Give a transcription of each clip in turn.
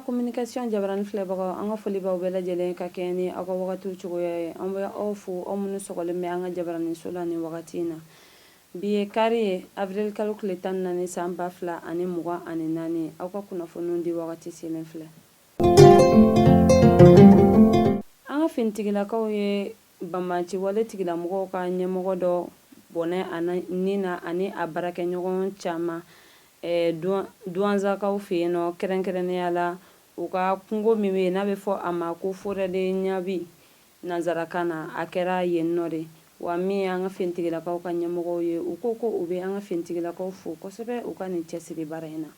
communication jabarani filɛbagaw an ka foli b'aw bɛɛ lajɛlen ka kɛɲɛ ni aw ka wagatiw cogoya ye an bɛ aw fo aw minnu sɔgɔlen bɛ an ka jabaraniso la nin wagati in na Bi ye kari ye, Avril kalo tile tan ni naani san ba fila ani mugan ani naani. Aw ka kunnafoniw di wagati selen filɛ. An ka finitigilakaw ye banbanciwale tigilamɔgɔw ka ɲɛmɔgɔ dɔ bɔnɛ a ni na ani a baarakɛɲɔgɔn caman Duanzakaw fɛ yen nɔ, kɛrɛnkɛrɛnnenya la u ka kungo min bɛ yen n'a bɛ fɔ a ma ko Forêt de Nyabi, Nansarakan na, a kɛra yen nɔ de, wa min ye an ka finitigilakaw ka ɲɛmɔgɔw ye, u ko ko u bɛ an ka finitigilakaw fo kosɛbɛ u ka nin cɛsiri baara in na.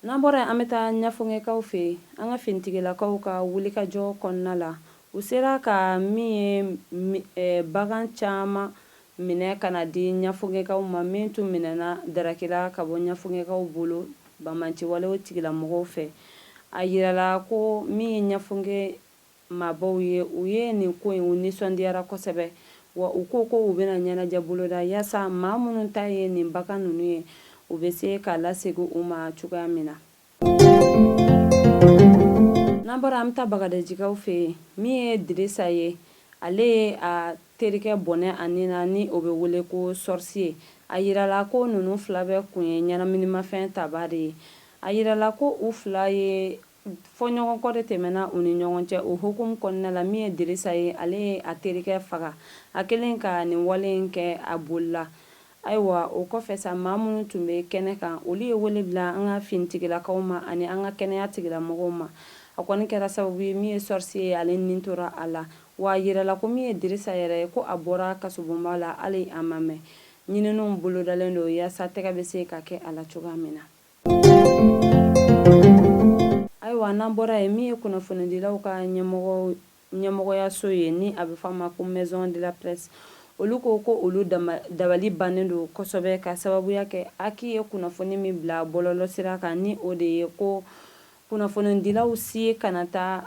N'an bɔra yen, an bɛ taa Ɲafongekaw fɛ yen, an ka finitigilakaw ka wulikajɔ kɔnɔna la, u sera ka min ye bagan caman Minɛ ka na di ɲafongekaw ma min tun minɛna darakila ka bɔ ɲafongekaw bolo banbanciwalew tigilamɔgɔw fɛ. A jirala ko min ye ɲafonge maabaw ye, u ye nin ko in u nisɔndiyara kosɛbɛ, wa u ko ko u bɛna ɲɛnajɛ boloda yaasa maa minnu ta ye nin bagan ninnu ye, u bɛ se k'a lasegin u ma cogoya min na. n'an bɔra an bɛ taa bagadajikaw fɛ yen min ye dirisa ye ale ye a terikɛ bɔnɛ a ni na ni o bɛ wele ko sɔrisi ye a jirala ko ninnu fila bɛɛ kun ye ɲɛnaminimafɛn tabaa de ye a jirala ko u fila ye fɔɲɔgɔnkɔ de tɛmɛna u ni ɲɔgɔn cɛ o hukumu kɔnɔna la min ye dirisa ye ale ye a terikɛ faga a kɛlen ka nin wale in kɛ a bolila Ayiwa o kɔfɛ sa, maa minnu tun bɛ kɛnɛ kan, olu ye wele bila an ka finitigilakaw ma ani an ka kɛnɛya tigilamɔgɔw ma. A kɔni kɛra sababu ye, min ye Sɔrisi ye, ale ni tora a la. Wa a jirala ko min ye Dirisa yɛrɛ ye, ko a bɔra kasobonba la, hali a ma mɛn. Ɲininiw bolodalen don yaasa tɛgɛ bɛ se ka kɛ a la cogoya min na. Ayiwa n'an bɔra yen, min ye kunnafonidilaw ka ɲɛmɔgɔ ɲɛmɔgɔyaso ye ni a bɛ fɔ a ma ko Maison de la Presse, olu ko ko olu dabali bannen don kosɛbɛ ka sababuya kɛ Aki ye kunnafoni min bila bɔlɔlɔsira kan ni o de ye ko kunnafonidilaw si kana taa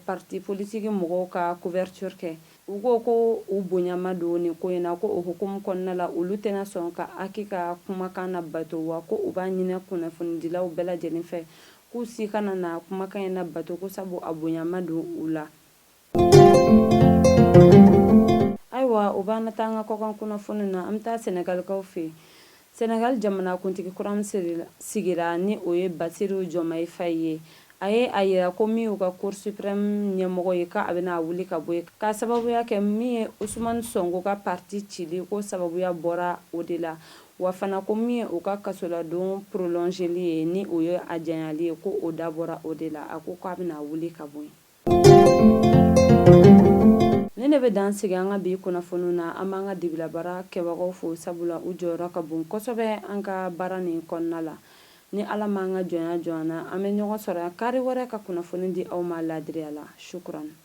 parti politiki mɔgɔw ka couverture kɛ. U ko ko u bonya ma don nin ko in na, ko o hukumu kɔnɔna la olu tɛna sɔn ka Aki ka kumakan labato wa ko u b'a ɲini kunnafonidilaw bɛɛ lajɛlen fɛ K'u si kana na kumakan in nabato ko sabu a bonya ma don u la. Ayiwa o b'an na taa an ka kɔkan kunnafoni na an bɛ taa Sɛnɛgalikaw fɛ yen. Sɛnɛgali jamanakuntigi kura min sigira ni o ye Basiru Jɔmayi Fayi ye, a ye a yira ko min y'u ka Cour suprême ɲɛmɔgɔ ye k'a bɛna a wuli ka bɔ yen, k'a sababuya kɛ min ye Usumani Sɔnko ka parti cili ko sababuya bɔra o de la. Wa fana ko min ye u ka kasoladon prolongeli ye, ni o ye a janyali ye, ko o dabɔra o de la. A ko k'a bɛna a wuli ka bɔ yen. Nin de bɛ dan sigi an ka bi kunnafoniw na. An b'an ka dibilabaara kɛbagaw fo, sabula u jɔyɔrɔ ka bon kosɛbɛ an ka baara nin kɔnɔna la. Ni Ala ma an ka jɔnya jɔ an na, an bɛ ɲɔgɔn sɔrɔ yan kari wɛrɛ ka kunnafoni di aw ma laadiriya la. Shukuran.